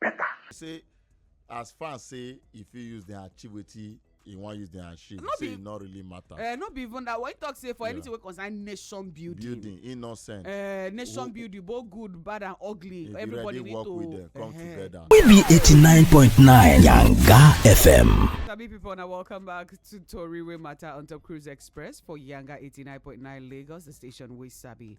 better. say as far as say e fit use dem achieve wetin e wan use dem achieve no say e no really matter. Uh, no be even that one he talk say for yeah. anything wey concern nation building. building he no send. Uh, nation Who, building both good bad and ugly if everybody you ready, need work to with them, come uh, together. we be eighty nine point nine yanga fm. sabi people na welcome back to tori wey matter on top cruise express for yanga eighty nine point nine lagos the station wey sabi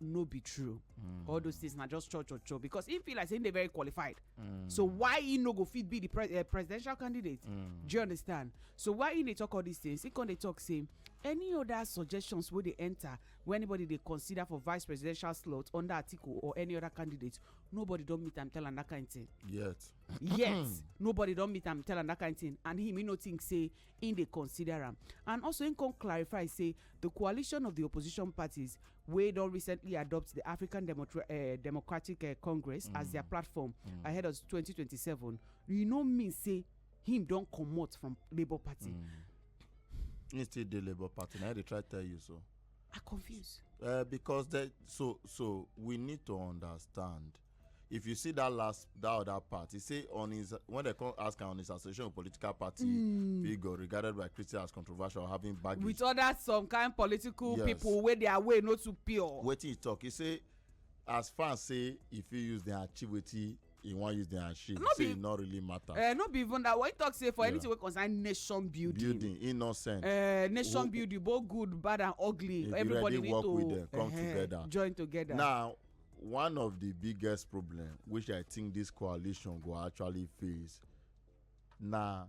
no be true mm. all those things na just cho cho cho because he feel like say he dey very qualified mm. so why he no go fit be the pre uh, presidential candidate mm. do you understand so why he dey talk all these things he come dey talk say any other suggestions wey dey enter wey anybody dey consider for vice presidential slot under atiku or any other candidate nobody don meet am tell am that kind thing. yet. yet nobody don meet am tell am that kind thing and him he no think say im dey consider am and also im come clarify say di coalition of di opposition parties wey don recently adopt di african eh, democratic eh, congress as mm. dia platform mm. ahead of 2027 e no mean say him don comot from labour party mm. he still dey labour party na i dey try tell you so i confuse eh, because so so we need to understand if you see that last that other part he say on his when they come ask am on his association of political party mm. figure regarded by christian as controversial having baggage with other some kind political yes. people wey their way no too pure wetin he talk he say as far say e fit use dem achieve wetin e wan use dem achieve no say e no really matter. Uh, no be even that one he talk say for yeah. anything wey concern nation building. building e no send. Uh, nation building both good bad and ugly. everybody need to work with them come uh eh, -huh, together. join together. now one of the biggest problem which i think this coalition go actually face na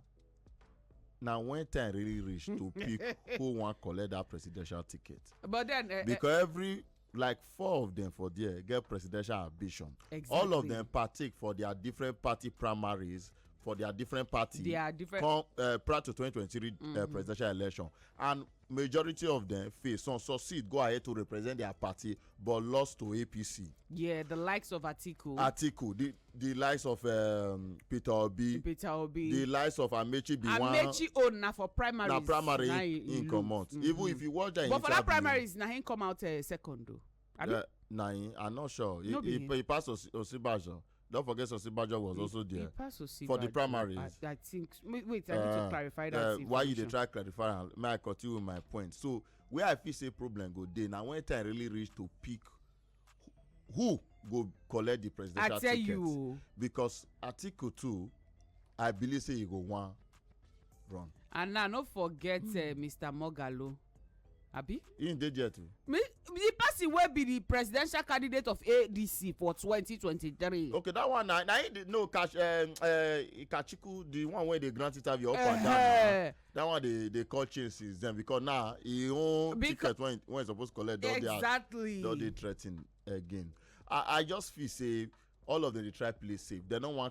na when time really reach to pick who wan collect that presidential ticket. but then uh, because every like four of them for there get presidential ambition. exactly all of them partake for their different party primaries for their different party. their different come uh, prior to twenty twenty three mm -hmm. uh, mm-hmm. presidential election and majority of them fail some succeed go ahead to represent their party but lost to apc. yeah the likes of atiku. atiku the the likes of um, peter obi. peter obi the likes of amechi biwa. amechi own na for primary. na primary na him comot mm -hmm. even if you watch that interview. but for that primaries na him come out uh, second o. Uh, na him i no sure he, no he, he pass Os osinbajo Don't forget Osibajo was he, also there he passed Osibajo, for the primaries. I, I think wait, wait I need to uh, clarify that. Uh, why you dey try clarify am? May I continue with my point? So where I feel say problem go dey na when time really reach to pick who go collect the presidential ticket. I tell ticket. you. Because Atiku too, I believe say he go wan run. and now no forget hmm. eh, mr mogalo abi. he dey there too. me the person wey be the presidential candidate of adc for 2023. okay that one na na him dey no kash uh, eh, uh, eh, kachiku the one wey dey grant interview up and down na that one dey dey call change since then because now he own Beca ticket when when he suppose collect don dey exactly. don dey threaten again i i just feel say all of them dey try play safe dem no wan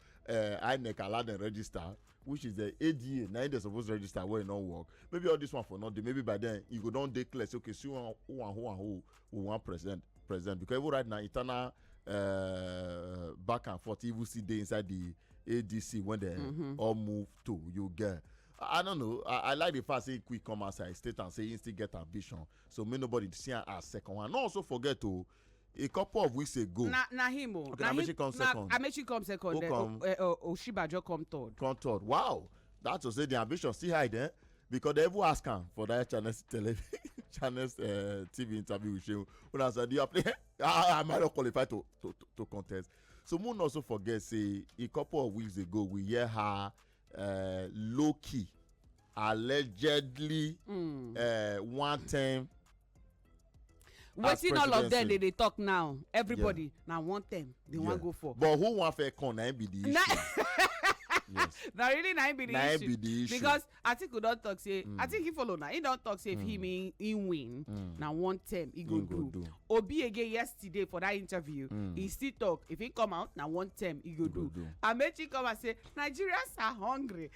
uh, inec allow dem register which is the ada na im dem suppose register wey e no work maybe all this one for no dey maybe by then e go don dey clear say okay see one who and who and who we wan present present because even right now internal uh, back and forth even still dey inside the adc when dem mm -hmm. all move to you get. I don't know. I, I like the fact say quick come outside state and say he still get ambition. So may nobody see am as second one. No also forget to oh, a couple of weeks ago. na na him o okay, na amechi come second na amechi come second Who then come? Eh, oh, oh, oshibajo come third. come third wow that to say the ambition still high there because they even ask am for that channel tele channel uh, eh, tv interview with shehu una say do you apply ah am i not qualified to to to, to contest so moon also forget say a couple of weeks ago we hear her uh, low key allegedly mm. uh, one term wetin all of them dey dey talk now everybody yeah. na one term they yeah. wan go for. but who wan fair come na him be the issue. yes. na really na him be the na issue. be the issue because atiku don talk say mm. i think he follow na he don talk say mm. if he mean he win mm. na one term he go, go do. do obi again yesterday for that interview mm. he still talk if he come out na one term he go, go do. do amechi come and say nigerians are hungry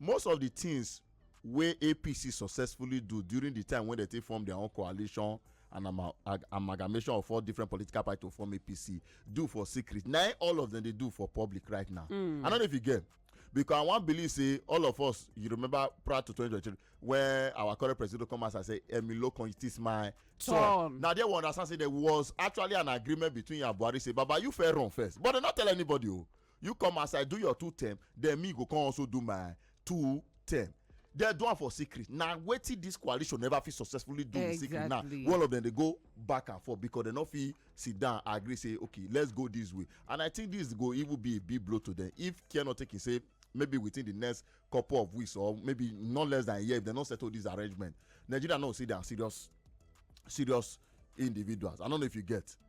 Most of di tins wey APC successfully do during di time wey dem take form dia own coalition and amalgamation of four different political parties to form APC do for secret, na im all of dem dey do for public right now. Hmm. I no know if you get. because i wan believe say all of us you remember prior to 2023 when our current president come out and say emilio kan it is my turn na there we understand say there was actually an agreement between yabuari say baba you fair run first but dem no tell anybody o oh. you come as i do your two term then me go come also do my two term dem do am for secret na wetin dis coalition never fit successfully do in secret now all of dem dey go back and forth because dem no fit sit down agree say okay let's go this way and i think this go even be a big blow to them if care not taken say maybe within the next couple of weeks or maybe not less than a year if they no settle this arrangement nigeria no see their serious serious individuals i don't know if you get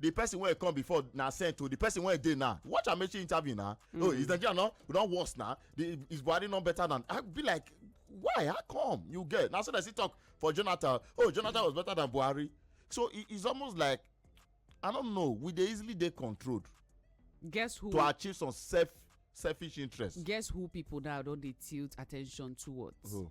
the person wey come before na sent o the person wey dey now watch amaechi interview na mm. oh is nigeria no we don worse na the is buhari no better than i be like why how come you get na so dem still talk for jonathan oh jonathan was better than buhari so it is almost like i don't know we dey easily dey controlled guess who to achieve some self selfish interest guess who people now don dey tilt attention towards who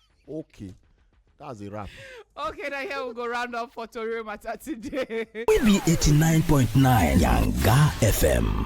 okay that's a wrap. okay now here we go round up for tori matter today. we be eighty nine point nine yanga fm.